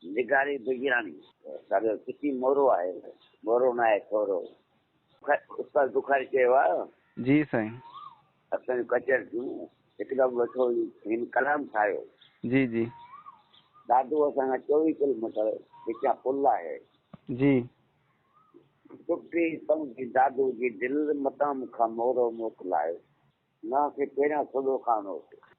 نگاري بيگيراڻي سارو چٽي مورو آهي مورو نه آهي ٿورو استاد بخاري چيو آ جي سائين اسان جون ڪچهر ٿيون هڪدم ويٺو هين ڪلام ٺاهيو جي جي دادو اسان کان چوويهه ڪلوميٽر وچان پل آهي جي ٽٽي سمجهي دادو جي دل متان مون کان مورو موڪلايو مان کي پهريان سوڍو خان هوس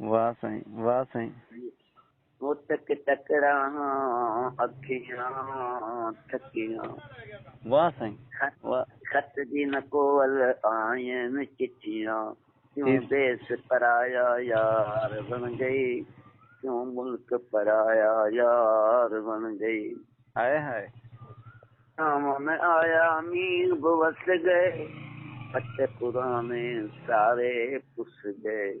واه سائين واه سائين. هوتڪ تڪڙاهان اکيان ٿڪيان. واه سائين واه. خط جي نه ڪول آهن چٺيان. ڪيون ديس پرايا يار وڻ گئي. ڪيون ملڪ پرايا يار وڻ گئي. هائي هائي. ساون ۾ آيا مينهن به وس گئي. خط پراڻي ساري پس گئي.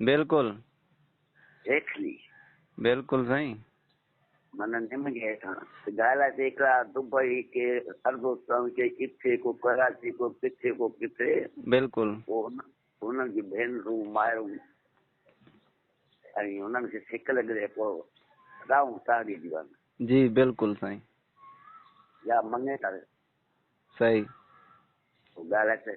بلڪل. ريکلي. بلڪل سائين. من نم گهي ٿان. گالا تي ڪرا دبئي ڪي اربستان ڪي ڪٿي ڪو ڪراچي ڪو ڪٿي ڪو ڪٿي بلڪل پو انهن جي ڀينرون مائرون ۽ انهن کي سڪ لڳري پو راون تاڙي ديوان جي بلڪل سائين يا مڱي تاڙي صحيح گالا تي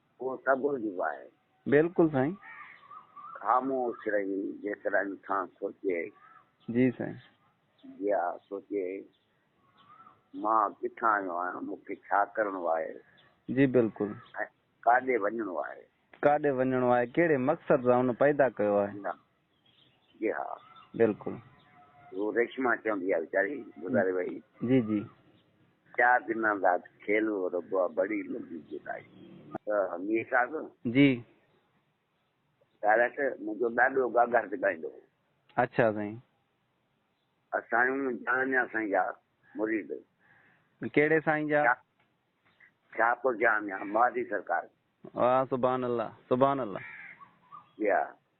اهو سگهو جيڪو آهي. بلڪل سائين. خاموش رهي جيڪڏهن انسان سوچي. جي سائين. جيا سوچي مان ڪٿان آيو آهيان مون کي ڇا ڪرڻو آهي. جي بلڪل. ۽ ڪاڏي وڃڻو آهي. ڪاڏي وڃڻو آهي ڪهڙي مقصد سان ان پيدا ڪيو آهي. جي ها بلڪل. هو ريشما چوندي آ ويچاري گذاري وئي. جي جي. چار دنان داد کيل هو ربا بڙي لڳي جدائي. مير صاحب. جي. ڊائريڪٽر منهنجو ڏاڏو گاگار تي ڳائيندو هو. اڇا سائين. اسايون جهانيان سائين جا مريد. ڪهڙي سائين جا؟ شاهپور جهانيان مهادي سرڪار. واه سبحان الله سبحان الله. جي ها.